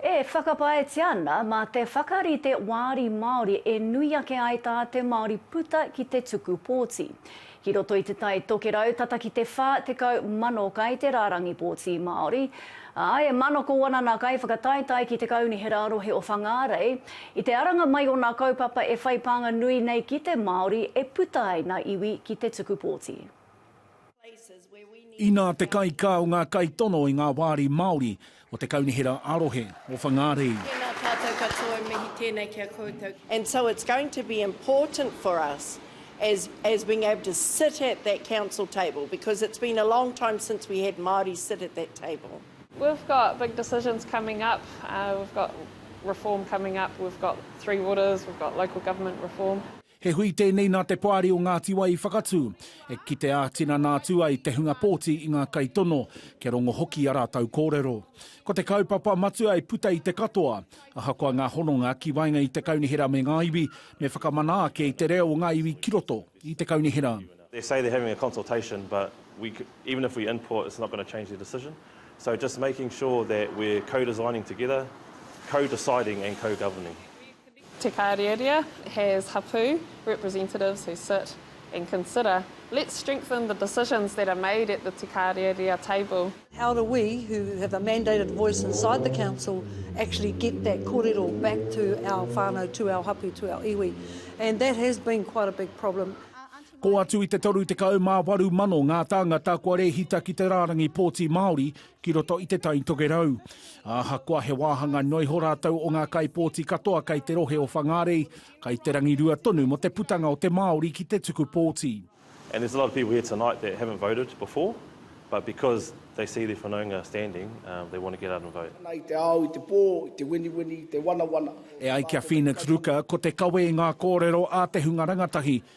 E whakapaetia ana mā te whakarite wāri Māori e nui ake ai tā te Māori puta ki te tuku pōti. Ki roto i Te Tai Tokerau tata ki te 40,000 kai te rārangi pōti Māori, ā, e manako ana nā kaiwhakataetae ki te Kaunihera Rohe o Whangārei i te aranga mai o nā kaupapa e whai pānga nui nei ki te Māori e puta ai nā iwi ki te tuku pōti. Inā te kaikā o ngā kaitono i ngā wāri Māori o te Kaunihera ā-Rohe o Whangārei. Tēnā tātou katoa, e mihi tēnei ki a koutou. And so it's going to be important for us as as being able to sit at that council table because it's been a long time since we had Māori sit at that table. We've got big decisions coming up, we've got reform coming up, we've got three waters, we've got local government reform. He hui tēnei nā te Poari o Ngāti Wai i whakatū, e kite ā-tinana atu ai te hunga pōti i ngā kaitono, kia rongo hoki i a rātou kōrero. Ko te kaupapa matua e puta i te katoa, ahakoa ngā hononga ki waenga i te kaunihera me ngā iwi, me whakamana ake i te reo o ngā iwi ki roto i te kaunihera. They say they're having a consultation but we even if we input it's not going to change their decision so just making sure that we're co-designing together, co-deciding and co-governing. Te Kariaria has hapū, representatives who sit and consider, let's strengthen the decisions that are made at the Te Kariaria table. How do we, who have a mandated voice inside the council, actually get that korero back to our whānau, to our hapū, to our iwi. And that has been quite a big problem. Kō atu i te 38 mano ngā tāngata kua rēhita ki te rārangi pōti Māori ki roto i Te Tai Tokerau. Ahakoa he wāhanga noa iho rātou o ngā kaipōti katoa kei te rohe o Whangārei, kai te rangirua tonu mō te putanga o te Māori ki te tuku pōti. And there's a lot of people here tonight that haven't voted before, but because they see their whanaunga standing, they want to get out and vote. Ana i te ao, i te pō, i te winiwini, i te wanawana. E ai ki a Phoenix Ruka, ko te kawe i ngā kōrero a te hunga rangatahi,